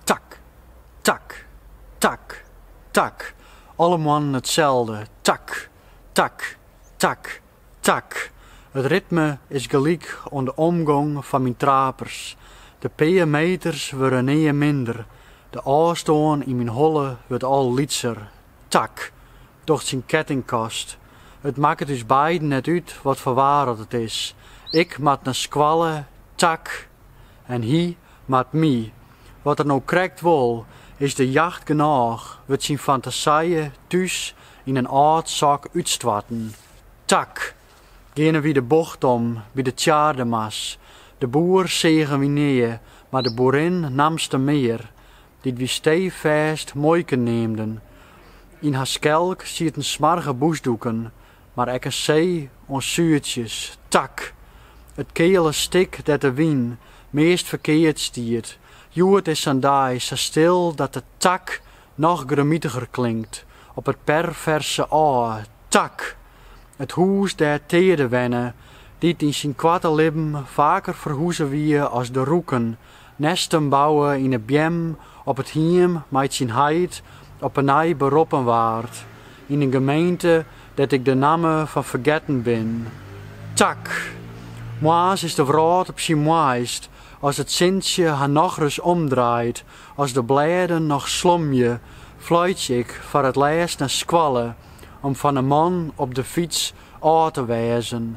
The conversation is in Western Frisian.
Tak, tak, tak, tak. Alle moarnen itselde. Tak, tak, tak, tak. It ritme is gelyk oan de omgong fan myn trapers. De pear meters wurde nea minder, de ôfstân yn myn holle wurdt al lytser. Tak, docht syn kettingkast. It makket ús beiden net út wat foar waar dat it is. Ik moat nei skoalle, Tak, en hy moat my. Wat er no krekt wol, is de jacht genôch, wurdt syn fantasije thús yn in âld sok útstoarten. Tak, geane wy de bocht om by de Tjaardema's. De boer seagen wy nea, mar de boerin namste mear. Dy't wie steefêst muoike neamden. Yn har skelk sieten smoarge bûsdoeken, mar ek in see oan suertsjes, tak! It keale stik dêr't de wyn meast ferkeard stiet, hjoed is sa'n dei sa stil dat de tak noch grimitiger klinkt op it perverse ôf, tak! It hûs dêr't Teade wenne, dy't yn syn koarte libben faker ferhuze wie as de rûken Nêsten bouwe yn 'e beam op it hiem mei't syn heit op 'e nij beroppen waard yn in gemeente dêr't ik de namme fan fergetten bin. Tak! Moarns is de wrâld op syn moaist as it sintsje har nochris omdraait. As de blêden noch slomje, fluitsje ik foar it lêst nei skoalle om fan 'e man op de fyts ôf te wêzen.